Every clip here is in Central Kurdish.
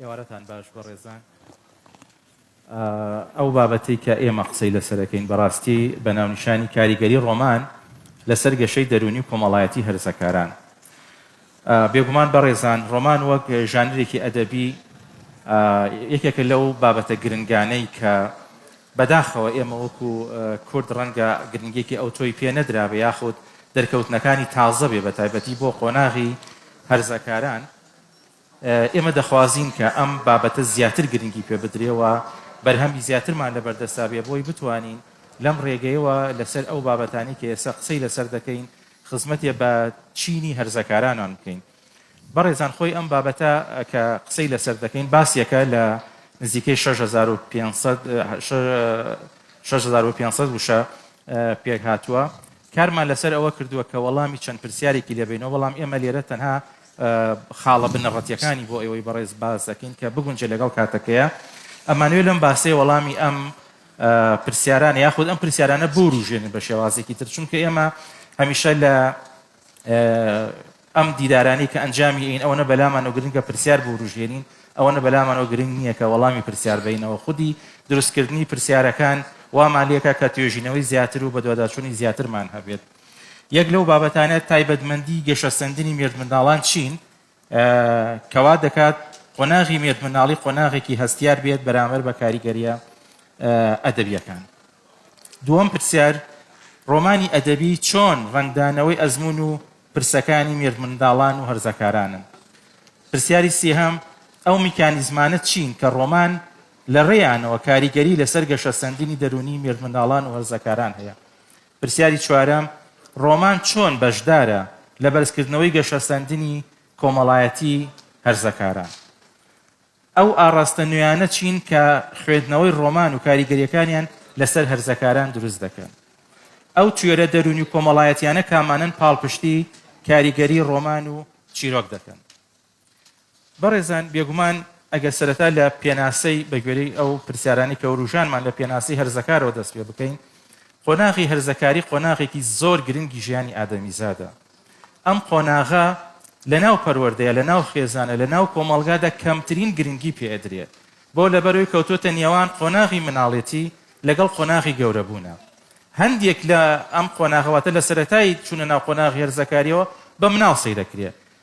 ئێوارەتان باش بەڕێزان. ئەو بابەتەی کە ئێمە قسەی لەسەر دەکەین بەڕاستی بە ناونیشانی کاریگەری ڕۆمان لەسەر گەشەی دەروونی و کۆمەڵایەتی هەرزەکاران بێگومان بەڕێزان ڕۆمان وەک ژانرێکی ئەدەبی یەکێکە لەو بابەتە گرنگانەی کە بەداخەوە ئێمە وەکو کورد ڕەنگە گرنگێکی ئەو تۆی پێ نەدرابێ یاخود دەرکەوتنەکانی تازە بێ بە تایبەتی بۆ قۆناغی هەرزەکاران ئێمە دەخوازین کە ئەم بابەتە زیاتر گرنگی پێ بدرێ و بەرهەمی زیاترمان لە بەردەستا بێ بۆی بتوانین لەم ڕێگەیەوە لە سەر ئەو بابەتانەی کە ئێستا قسەی لە سەر دەکەین خزمەتێ بە چینی هەرزەکارانان بکەین. بەڕێزان خۆی ئەم بابەتە کە قسەی لە سەر دەکەین باسێکە لە نزیکەی شەش هەزار و پێنج سەد شەش هەزار و پێنج سەد وشە پێک هاتووە. کارمان لە سەر ئەوە کردووە کە وەڵامی چەند پرسیارێکی لێ بینەوە بەڵام ئێمە لێرە تەنها خاڵە بنەڕەتیەکانی بۆ ئێوەی بەڕێز باس دەکەین کە بگونجێ لەگەڵ کاتەکەیە. ئەمانوێ لەم باسەیە وەڵامی ئەم پرسیارانە یاخود ئەم پرسیارانە بوروژێنن بە شێوازێکی تر چونکە ئێمە هەمیشە لە ئەم دیدارانەی کە ئەنجامی ئەین ئەوەنە بەلامانەوە گرنگە پرسیار بوروژێنین ئەوەنە بەلامانەوە گرنگ نییە کە وەڵامی پرسیار بینەوە خودی دروستکردنی پرسیارەکان وامان لێکە کە توێژینەوەی زیاتر و بەدواداچوونی زیاترمان هەبێت. یەک لەو بابەتانە تایبەتمەندی گەشەسەندنی مێردمنداڵان چین کەوا دەکات قۆناغی مێردمناڵی قۆناغێکی هەستیار بێت بەرامەر بە کاریگەریە ئەدەبیەکان دووەم پرسیار ڕۆمانی ئەدەبی چۆن ڕنگدانەوەی ئەزمون و پرسەکانی مێردمنداڵان و هەرزەکارانن پرسیاری سێهەم ئەو میکانیزمانە چین کە ڕۆمان لە ڕێیانەوە کاریگەری لەسەر گەشەسەندنی دەرونی مێردمنداڵان و هەرزەکاران هەیە پرسیاری چوارەم، ڕۆمان چۆن بەشدارە لە بەرزکردنەوەی گەشەسەندنی کۆمەڵایەتی هەرزەکاران؟ ئەو ئاڕاستە نوێیانە چین کە خوێندنەوەی ڕۆمان و کاریگەرییەکانیان لەسەر هەرزەکاران دروست دەکەن؟ ئەو توێرە دەروونی و کۆمەڵایەتییانە کامانەن پاڵپشتی کاریگەری ڕۆمان و چیرۆک دەکەن؟ بەڕێزان بێگومان ئەگەر سەرەتا لە پێناسەی بە گوێرەی ئەو پرسیارانەی کە وروژانمان لە پێناسەی هەرزەکارەوە دەست پێ بکەین، قۆناغی هەرزەکاری قۆناغێکی زۆر گرنگی ژیانی ئادەمیزادە. ئەم قۆناغە لە ناو پەروەردەیە، لە ناو خێزانە، لە ناو کۆمەڵگادا کەمترین گرنگی پێ ئەدرێ. بۆ لەبەرەوەی کەوتۆتە نێوان قۆناغی مناڵێتی لەگەڵ قۆناغی گەورەبوونە. هەندێک لە ئەم قۆناغە واتە لە سەرەتای چوونە ناو قۆناغی هەرزەکاریەوە بە مناڵ سەیرەکرێ.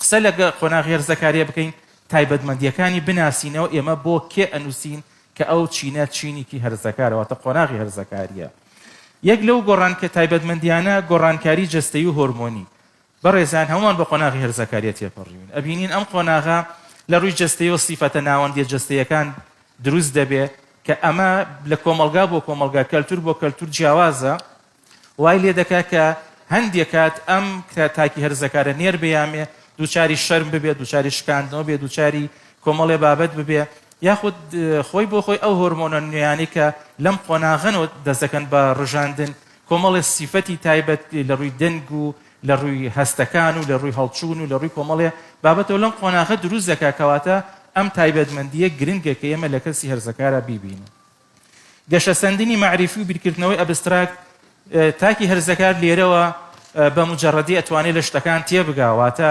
قسە لە قۆناغی هەرس زەکاریا بکەین، تایبەتمەندییەکانی بناسینەوە، ئێمە بۆ کێ ئەنووسین کە ئەو چینە چینیکی هەرس زەکارە، واتە قۆناغی هەرس زەکاریا. یەک لەو گۆڕانکە تایبەتمەندییانە گۆڕانکاری جەستەیی و هۆرمۆنی. بەڕێزان هەمووان بە قۆناغی هەرس زەکاریا تێپەڕیوین، ئەبینین ئەم قۆناغە لە ڕووی جەستەیەوە سیفەتە ناوەندییە جەستەیەکان دروست دەبێ کە ئەمە لە کۆمەڵگا بۆ کۆمەڵگا، کەلتوور بۆ کەلتوور جیاوازە، وای لێ دەکا کە هەندێ کات ئەم کرا تاکی هەرزەکارە نێر بەیامێ دووچاری شەرم ببێ دووچاری شکاندنەوە بێ دووچاری کۆمەڵێ بابەت ببێ یاخود خۆی بۆ خۆی ئەو هۆرمۆنە نوێیانی کە لەم قۆناغەنەوە دەست دەکەن بە ڕژاندن کۆمەڵێ سیفەتی تایبەت لە ڕووی دەنگ و لە ڕووی هەستەکان و لە ڕووی هەڵچوون و لە ڕووی کۆمەڵێ بابەتەوە لەم قۆناغە دروست دەکا کەواتە ئەم تایبەتمەندیە گرنگە کە ئێمە لە کەسی هەرزەکارە بیبینن. گەشەسەندنی مەعریفی و بیرکردنەوەی ئەبستراکت تاکی هەرزەکار لێرەوە بە مجەڕەدی ئەتوانێت لە شتەکان تێبگا، واتە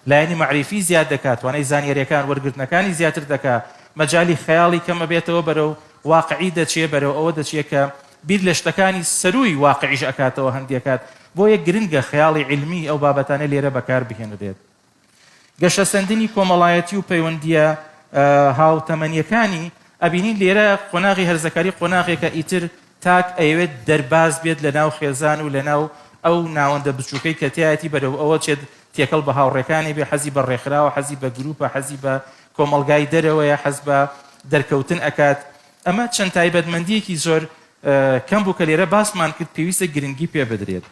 لایەنی مەعریفی زیاد دەکات، توانای زانیارییەکان وەرگرتنەکانی زیاتر دەکات، مەجالی خەیاڵی کەمەبێتەوە بەرەو واقعی دەچێت، بەرەو ئەوە دەچێت کە بیر لە شتەکانی سەرووی واقعیش ئەکاتەوە هەندێک کات، بۆیە گرنگە خەیاڵی عیلمی ئەو بابەتانە لێرە بەکاربهێنرێت. گەشەسەندنی کۆمەڵایەتی و پەیوەندییە هاوتەمەنییەکانی، ئەبینین لێرە قۆناغی هەرزەکاری قۆناغێکە ئیتر تاک ئەیەوێت دەرباز بێت لە ناو خێزان و لە ناو ئەو ناوەندە بچووکەی کە تیایەتی بەرەو ئەوە چێت تێکەڵ بە هاوڕێکانی بێ، حەزی بە ڕێکخراوە، حەزی بە گرووپە، حەزی بە کۆمەڵگای دەرەوەیە، حەز بە دەرکەوتن ئەکات. ئەمە چەند تایبەتمەندییەکی زۆر کەم بوو کە لێرە باسمان کرد پێویستە گرنگی پێ بدرێت.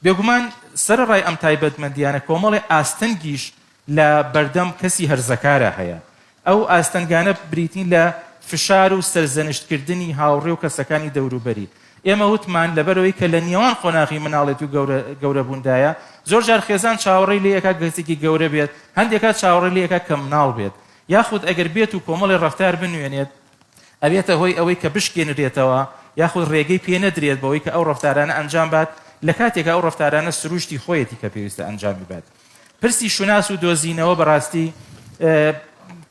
بێگومان سەرەڕای ئەم تایبەتمەندییانە کۆمەڵێ ئاستەنگیش لە بەردەم کەسی هەرزەکارا هەیە. ئەو ئاستەنگانە بریتین لە فشار و سەرزەنشتکردنی هاوڕێ و کەسەکانی دەوروبەری. ئێمە وتمان لەبەرئەوەی کە لە نێوان قۆناغی منداڵێتی و گەورەبووندایە، زۆر جار خێزان چاوەڕێی لێ ئەکات کەسێکی گەورە بێت، هەندێک کات چاوەڕێی لێ ئەکات کە منداڵ بێت، یاخود ئەگەر بێت و کۆمەڵێ ڕەفتار بنوێنێت، ئەبێتە هۆی ئەوەی کە بشکێنرێتەوە یاخود رێگەی پێ نەدرێت بەوەی کە ئەو رەفتارانە ئەنجام بات لە کاتێکا ئەو رەفتارانە سروشتی خۆیەتی کە پێویستە ئەنجامی بات. پرسی شوناس و دۆزینەوە بەڕاستی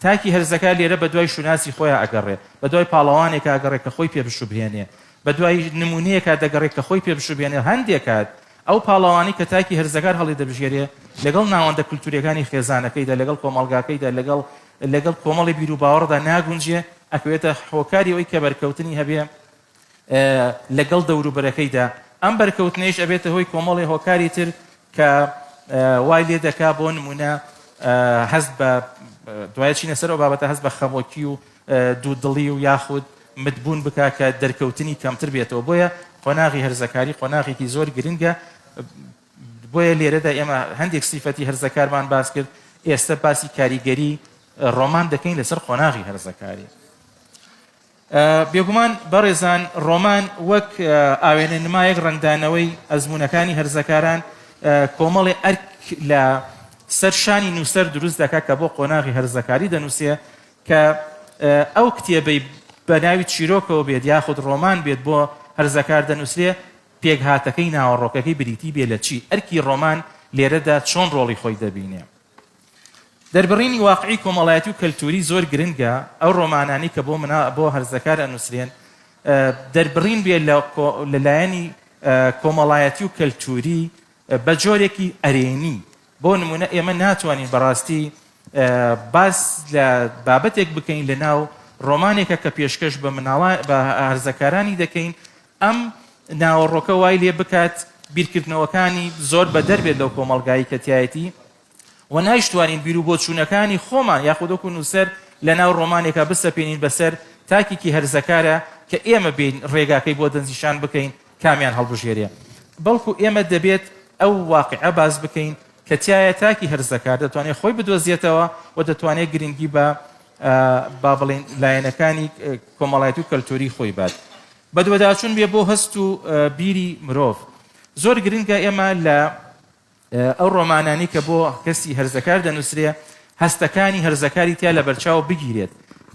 تاکی هەرزەکە لێرە بە دوای شوناسی خۆیان ئەگەڕێ بە دوای پاڵەوانێک ئاگەڕێ کە خۆی پێ بشوبهێنێ بە دوای نمونەیەکە دەگەڕێت کە خۆی پێ بشوبێنێ هەندێک کات ئەو پاڵەوانی کە تاکی هەرزەکار هەڵی دەبژێرێ لەگەڵ ناوەندە کللتوریەکانی خێزانەکەیدا لەگەڵ کۆمەڵگاکەیدا لەگەڵ لەگەڵ کۆمەڵی بیروباوەڕدا ناگونجێ، ئەکەوێتە هۆکاری ئەوەی کە بەرکەوتنی هەبێ لەگەڵ دەوروبەرەکەیدا، ئەم بەرکەوتنەیش ئەبێتە هۆی کۆمەڵێ هۆکاری تر کە وای لێ دەکا بۆ نموونە هەست بە دوای چینە سەر ئەو بابەتە هەست بە خەمۆکی و دوودڵی و یاخود متبوون بکا کە دەرکەوتنی کەمتر بێتەوە بۆیە قۆناغی هەرزەکاری قۆناغێکی زۆر گرنگە بۆیە لێرەدا ئێمە هەندێک سیفەتی هەرزەکارمان باس کرد ئێستا باسی کاریگەری ڕۆمان دەکەین لەسەر قۆناغی هەرزەکاری بێگومان بەڕێزان ڕۆمان وەک ئاوێنە نمایەک ڕنگدانەوەی ئەزمونونەکانی هەرزەکاران کۆمەڵێ ئەرک لە سەر شانی نووسەر دروست دەکات کە بۆ قۆناغی هەرزەکاری دەنووسێ کە ئەو کتێبەی بە ناوی چیرۆکەوە بێت یاخود ڕۆمان بێت بۆ هەرزەکار دەنووسێ پێکهاتەکەی ناوەڕۆکەکەی بریتی بێ لە چی، ئەرکی ڕۆمان لێرەدا چۆن ڕۆڵی خۆی دەبینێ. دەربڕینی واقعی کۆمەڵایەتی و کەلتووری زۆر گرنگە، ئەو ڕۆمانانەی کە بۆ منا، بۆ هەرزەکار ئەنووسرێن، دەربڕین بێ لە کۆ، لە لایەنی کۆمەڵایەتی و کەلتووری بە جۆرێکی ئەرێنی. بۆ نموونە ئێمە ناتوانین بە ڕاستی باس لە بابەتێک بکەین لە ناو ڕۆمانێکە کە پێشکەش بە مناڵان، بە هەرزەکارانی دەکەین ئەم ناوەڕۆکە وای لێ بکات بیرکردنەوەکانی زۆر بەدەر بێت لەو کۆمەڵگایی کە تایەتی و نایشتوانین بیر و بۆچوونەکانی خۆمان یاخودۆک و نووسەر لە ناو ڕۆمانێکە بسەپێنین بەسەر تاکێکی هەرزەکارە کە ئێمە بین ڕێگاکەی بۆ دەنجیشان بکەین کامیان هەڵبژێرێ بەڵکو ئێمە دەبێت ئەو واقعە باز بکەین کە تایە تاکی هەرزەکار دەتوانێت خۆی بدۆزیێتەوە و دەتوانێت گرنگی بە با بڵێن لایەنەکانی کۆمەڵایەتی و کەلتوری خۆی بات بەدواداچون بێ بۆ هەست و بیری مرۆڤ. زۆر گرنگە ئێمە لە ئەو رۆمانانەی کە بۆ کەسی هەرزەکار دەنوسرێ هەستەکانی هەرزەکاری تیا لەبەرچاو بگیرێت.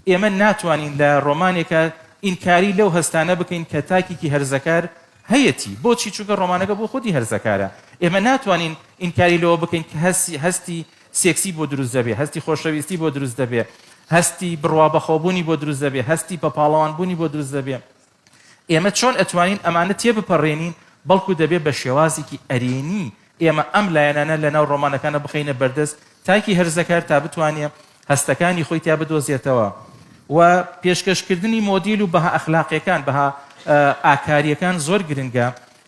ئێمە ناتوانین لە رۆمانێکا ئینکاری لەو هەستانە بکەین کە تاکێکی هەرزەکار هەیەتی. بۆچی؟ چونکە رۆمانەکە بۆ خودی هەرزەکارە. ئێمە ناتوانین ئینکاری لەوە بکەین کە هەستی سێکسی بۆ دروست دەبێ، هەستی خۆشەویستی بۆ دروست دەبێ، هەستی بڕوابەخۆبوونی بۆ دروست دەبێ، هەستی بەپاڵەوانبوونی بۆ دروست دەبێ. ئێمە چۆن ئەتوانین ئەمانە تێبپەڕێنین، بەڵکو دەبێ بە شێوازێکی ئەرێنی ئێمە ئەم لایەنانە لە ناو ڕۆمانەکانە بخەینە بەردەست تاکی هەرزەکار تا بتوانێ هەستەکانی خۆی تیا بدۆزێتەوە و پێشکەشکردنی مۆدیل و بەها ئەخلاقیەکان، بەها ئاکاریەکان زۆر گرنگە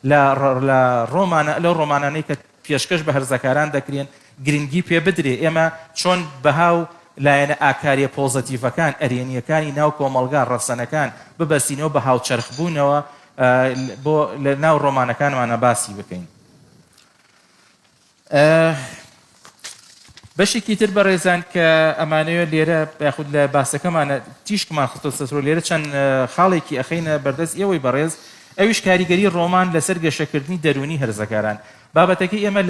لە لە ڕۆمانە لەو ڕۆمانانەی کە پێشکەش بە هەرزەکاران دەکرێن گرنگی پێ بدرێ ئێمە چۆن بەها و لایەنە ئاکاریە پۆزەتیڤەکان، ئەرێنیەکانی ناو کۆمەڵگا، ڕەسەنەکان ببەستینەوە بە هاوچەرخ بوونەوە بۆ لە ناو ڕۆمانەکانمانا باسی بکەین. بەشێکی تر بەڕێزان کە ئەمانەوێت لێرە یاخود لە باسەکەمانە تیشکمان خستۆتەسەرو لێرە چەند خاڵێکی ئەخەینە بەردەست ئێوەی بەڕێز ئەویش کاریگەری ڕۆمان لەسەر گەشەکردنی دەروونی هەرزەکاران بابەتەکەی ئێمە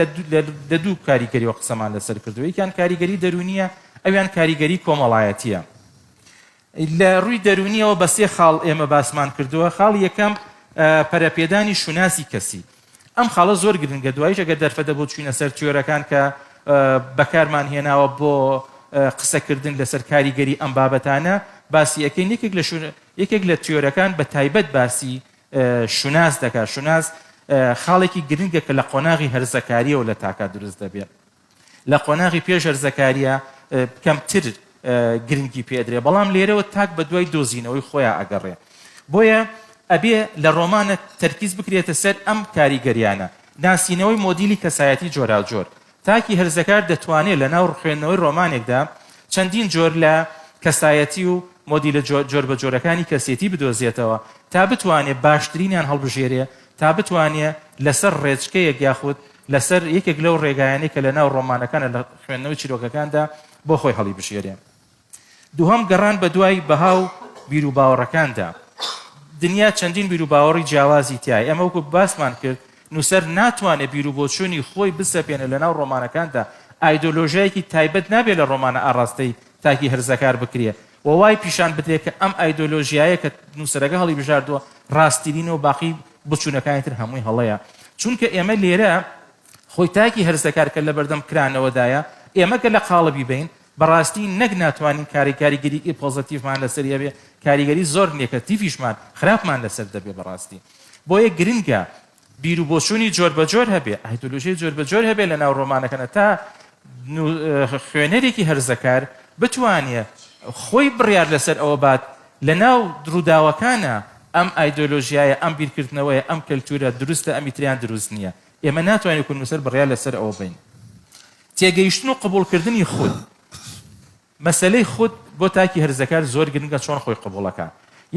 لە دوو کاریگەریەوە قسەمان لەسەر کردووە یەکیان کاریگەری دەروونیە ئەویان کاریگەری کۆمەڵایەتیە لە ڕووی دەروونییەوە بە سێ خاڵ ئێمە باسمان کردووە، خاڵی یەکەم پەرەپێدانی شوناسی کەسی، ئەم خاڵە زۆر گرنگە، دواییش ئەگەر دەرفەتدەبوو چووینە سەر تیۆرەکان کە بەکارمان هێناوە بۆ قسەکردن لەسەر کاریگەری ئەم بابەتانە باسی ئەکەین، یەکێک لە یەکێک لە تیۆرەکان بە تایبەت باسی شوناس دەکات، شوناس خاڵێکی گرنگە کە لە قۆناغی هەرزەکارییەوە لە تاکە دروست دەبێت. لە قۆناغی پێش هەرزەکارییە کەمتر گرنگی پێ ئەدرێ بەڵام لێرەوە تاک بە دوای دۆزینەوەی خۆیان ئەگەڕێ بۆیە ئەبێ لە ڕۆمانە تەرکیز بکرێتە سەر ئەم کاریگەریانە ناسینەوەی مۆدیلی کەسایەتی جۆراوجۆر تاکی هەرزەکار دەتوانێت لە ناو ڕخوێندنەوەی ڕۆمانێکدا چەندین جۆر لە کەسایەتی و مۆدیلە جۆر بە جۆرەکانی کەسێتی بدۆزێتەوە تا بتوانێت باشترینیان هەڵبژێرێ تا بتوانێت لەسەر ڕێچکەیەک یاخود لەسەر یەکێک لەو ڕێگایانەی کە لەناو ڕۆمانەکانە لە خوێندنەوەی چیرۆکەکاندا بۆ خۆی هەڵیبژێرێ. دووهەم گەڕان بە دوای بەها و بیروباوەڕەکاندا. دنیا چەندین بیروباوەڕی جیاوازی تیایە، ئێمە وەکو باسمان کرد نووسەر ناتوانێ بیروبۆچوونی خۆی بسەپێنێ لەناو ڕۆمانەکاندا، ئایدۆلۆژیایەکی تایبەت نابێ لە ڕۆمانە ئاڕاستەی تاکی هەرزەکار بکرێ، و وای پیشان بدرێت کە ئەم ئایدۆلۆژیایە کە نووسەرەکە هەڵیبژاردووە ڕاستترینە و باقی بچوونەکانی تر هەمووی هەڵەیە چونکە ئێمە لێرە خۆی تاکی هەرس دەکات کە لە بەردەم کرانەوەدایە ئێمە کە لە قاڵبی بین بەڕاستی نەک ناتوانین کاری کاریگەری ئی پۆزەتیفمان لەسەر هەبێ کاریگەری زۆر نێکەتیفیشمان خراپمان لەسەر دەبێ بەڕاستی بۆیە گرنگە بیرو بۆچوونی جۆر بە جۆر هەبێ، ئایدۆلۆژیای جۆر بە جۆر هەبێ لە ناو ڕۆمانەکەنە تا خوێنەرێکی هەرزەکار بتوانێ خۆی بڕیار لە سەر ئەوە بات لە ناو ڕووداوەکانە ئەم ئایدۆلۆژیایە، ئەم بیرکردنەوەیە، ئەم کەلتوورە دروستە، ئەمی تریان دروست نییە. ئێمە ناتوانین وەکوو نووسەر بڕیار لە سەر ئەوە بەین. تێگەیشتن و قبووڵکردنی خود. مەسەلەی خود بۆ تاکی هەرزەکار زۆر گرنگە چۆن خۆی قبوڵەکا.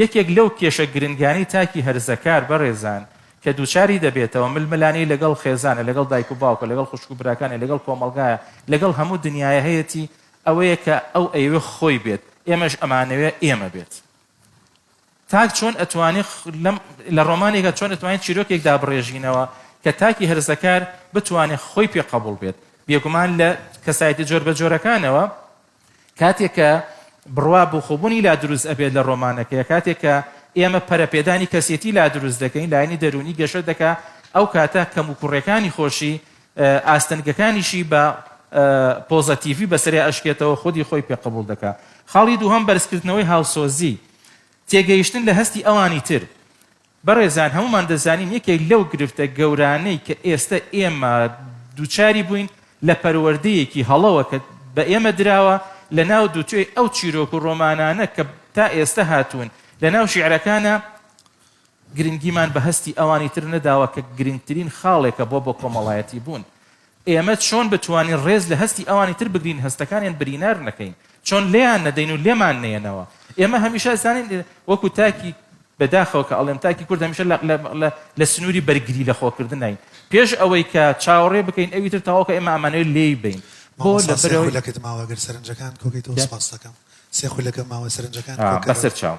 یەکێک لەو کێشە گرنگانەی تاکی هەرزەکار بەڕێزان کە دووچاری دەبێتەوە ململانێی لەگەڵ خێزانە، لەگەڵ دایک و باوکە، لەگەڵ خوشک و براکانە، لەگەڵ کۆمەڵگایە، لەگەڵ هەموو دنیایە هەیەتی، ئەوەیە کە ئەو ئەیەوێ خۆی بێت، ئێمەش ئەمانەوێ ئێمە بێت. تاک چۆن ئەتوانێ لەم لە ڕۆمانێکە چۆن ئەتوانێت چیرۆکێک دابڕێژینەوە کە تاکی هەرزەکار بتوانێت خۆی پێ قبول بێت بێگومان لە کەسایەتی جۆر بە جۆرەکانەوە کاتێک کە بڕوا بخۆبوونی لا دروست ئەبێت لە ڕۆمانەکەی کاتێک کە ئێمە پەرەپێدانی کەسێتی لا دروست دەکەین لایەنی دەرونی گەشە دەکا ئەو کاتە کەم و کوڕەکانی خۆشی ئاستەنگەکانیشی بە پۆزەتیڤی بەسەری ئەشکێتەوە خودی خۆی پێ قبول دەکا خاڵی دووهم بەرزکردنەوەی هاوسۆزی تێگەیشتن لە هەستی ئەوانی تر. بەڕێزان هەموومان دەزانین یەکێک لەو گرفتە گەورانەی کە ئێستە ئێمە دووچاری بووین لە پەروەردەیەکی هەڵەوە کە بە ئێمە دراوە لە ناو دووتوێی ئەو چیرۆک و ڕۆمانانە کە تا ئێستە هاتوون لە ناو شیعرەکانا گرنگیمان بە هەستی ئەوانی تر نەداوە کە گرنگترین خاڵێکە بۆ بۆ کۆمەڵایەتی بوون. ئێمە چۆن بتوانین ڕێز لە هەستی ئەوانی تر بگرین هەستەکانیان برینار نەکەین؟ چۆن لێیان نەدەین و لێمان نەیەنەوە؟ ئێمە هەمیشە ئەزانین وەکو تاکی، بەداخەوە کە ئەڵێم تاکی کورد هەمیشە لە لە لە لە سنووری بەرگری لە خۆکردنین پێش ئەوەی کە چاوەڕێ بکەین ئەوی تر تەواو کە ئێمە ئەمانەوێت لێی بەین. بۆ مامۆستا سێ لەبەرئەوەی. خولەکت ماوە گەر سەرنجەکان کۆ کەیتەوە سوپاستەکەم سێ خولەکە ماوە سەرنجەکان کۆ کەرەوە. بەسەر چاو.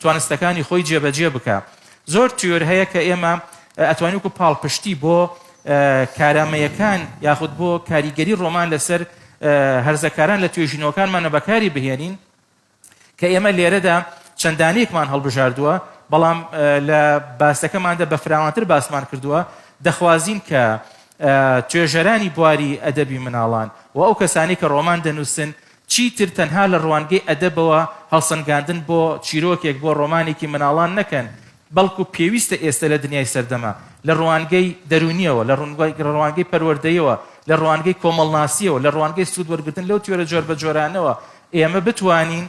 توانستەکانی خۆی جێبەجێ بکا زۆر تیۆر هەیە کە ئێمە ئەتوانین وەکو پاڵپشتی بۆ کارامەیەکان یاخود بۆ کاریگەری ڕۆمان لەسەر هەرزەکاران لە توێژینەوەکانمانە بەکاری بهێنین کە ئێمە لێرەدا چەندانێکمان هەڵبژاردووە بەڵام لە باسەکەماندا بە فراوانتر باسمان کردووە دەخوازین کە توێژەرانی بواری ئەدەبی مناڵان و ئەو کەسانی کە ڕۆمان دەنووسن چیتر تەنها لە ڕوانگەی ئەدەبەوە هەڵسەنگاندن بۆ چیرۆکێک، بۆ ڕۆمانێکی منداڵان نەکەن، بەڵکو پێویستە ئێستە لە دنیای سەردەمە، لە ڕوانگەی دەروونییەوە، لە ڕوانگەی پەروەردەیەوە، لە ڕوانگەی کۆمەڵناسییەوە، لە ڕوانگەی سوود وەرگرتن لەو تیۆرە جۆربەجۆرانەوە ئێمە بتوانین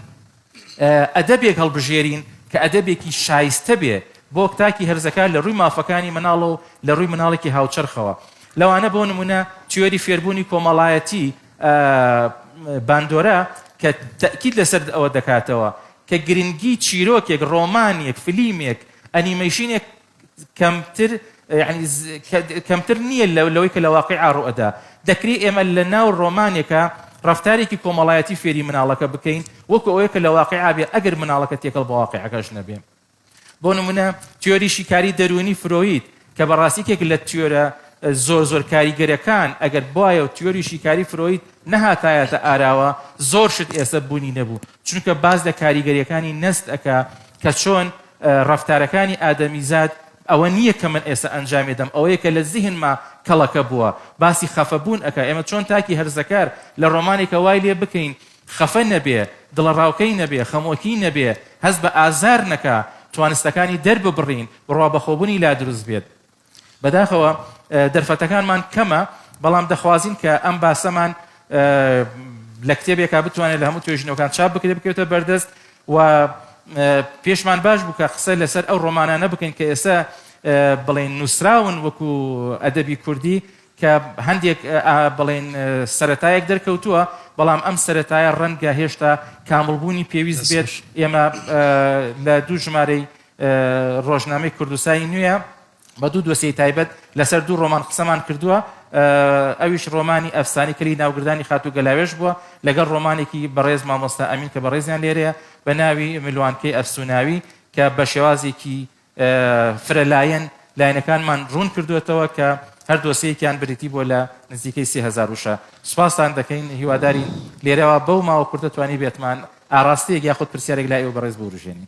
ئەدەبێک هەڵبژێرین کە ئەدەبێکی شایستە بێ بۆ تاکی هەرزەکار لە ڕووی مافەکانی منداڵەوە و لە ڕووی منداڵێکی هاوچەرخەوە. لەوانە بۆ نموونە تیۆری فێربوونی کۆمەڵایەتی باندۆرا کە تەئکید لەسەر ئەوە دەکاتەوە کە گرنگی چیرۆکێک، ڕۆمانێک، فلیمێک، ئەنیمەیشنێک کەمتر یعنی کەمتر نییە لەوەی کە لە واقعا ڕوئەدا دەکری ئێمە لە ناو ڕۆمانێکە ڕفتارێکی کۆمەڵایەتی فێری مناڵەکە بکەین وەکو ئەوەیە کە لە واقعا بێ ئەگەر مناڵەکە تێکەڵ بە واقعەکەش نەبێ بۆ نمونە تیۆری شیکاری دەروونی فرۆید کە بەڕاستیکێک لە تیۆرە زۆر زۆر کاریگەرەکان ئەگەر بواە و تیۆری شیکاری فرۆید نەهاتایەتە ئاراوە زۆر شت ئێستا بوونی نەبوو چونکە باس لە کاریگەریەکانی نەست ئەکا کە چۆن ڕەفتارەکانی ئادەمیزاد ئەوە نییە کە من ئێستا ئەنجامی دەم ئەوەیە کە لە زیهنما کەڵەکە بووە باسی خەفەبوون ئەکا ئێمە چۆن تاکی هەرزەکار لە ڕۆمانێکە وای لێ بکەین خەفە نەبێ دڵەڕاوکەی نەبێ خەمۆکی نەبێ هەست بە ئازار نەکا توانستەکانی دەرببڕین بڕوا بەخۆبوونی لا دروست بێت بەداخەوە دەرفەتەکانمان کەمە بەڵام دەخوازین کە ئەم باسەمان لە کتێبێکا بتوانێت لە هەموو توێژینەوەکان چاپ بکرێت بکەوتە بەردەست و پێشمان باش بوو کە قسە لەسەر ئەو ڕۆمانانە بکەین کە ئێستا بڵێن نووسراون وەکو ئەدەبی کوردی کە هەندێک بڵێن سەتایەک دەرکەوتووە بەڵام ئەم سەتایە ڕەنگە هێشتا کاملبوونی پێویست بێت ئێمە لە دوو ژمارەی ڕۆژنامەی کوردسای نوێ بە دوو دۆسیەی تایبەت لەسەر دوو ڕۆمان قسەمان کردووە ئەویش ڕۆمانی ئەفسانی کەلی ناوگردانی خاتوو گەلاوێش بووە لەگەڵ ڕۆمانێکی بەڕێز مامۆستا ئەمین کە بەڕێزیان لێرەیە بە ناوی ملوانکەی ئەفسوناوی کە بە شێوازێکی فرەلایەن لایەنەکانمان ڕوون کردوێتەوە کە هەر دۆسیەکیان بریتی بۆ لە نزیکەی سهزار وشە سوپاستان دەکەین هیوادارین لێرەوە بەو ماوە کوردە توانی بێتمان ئاراستەیەک یاخود پرسیارێک لای ئەو بەڕێز بوروژێنی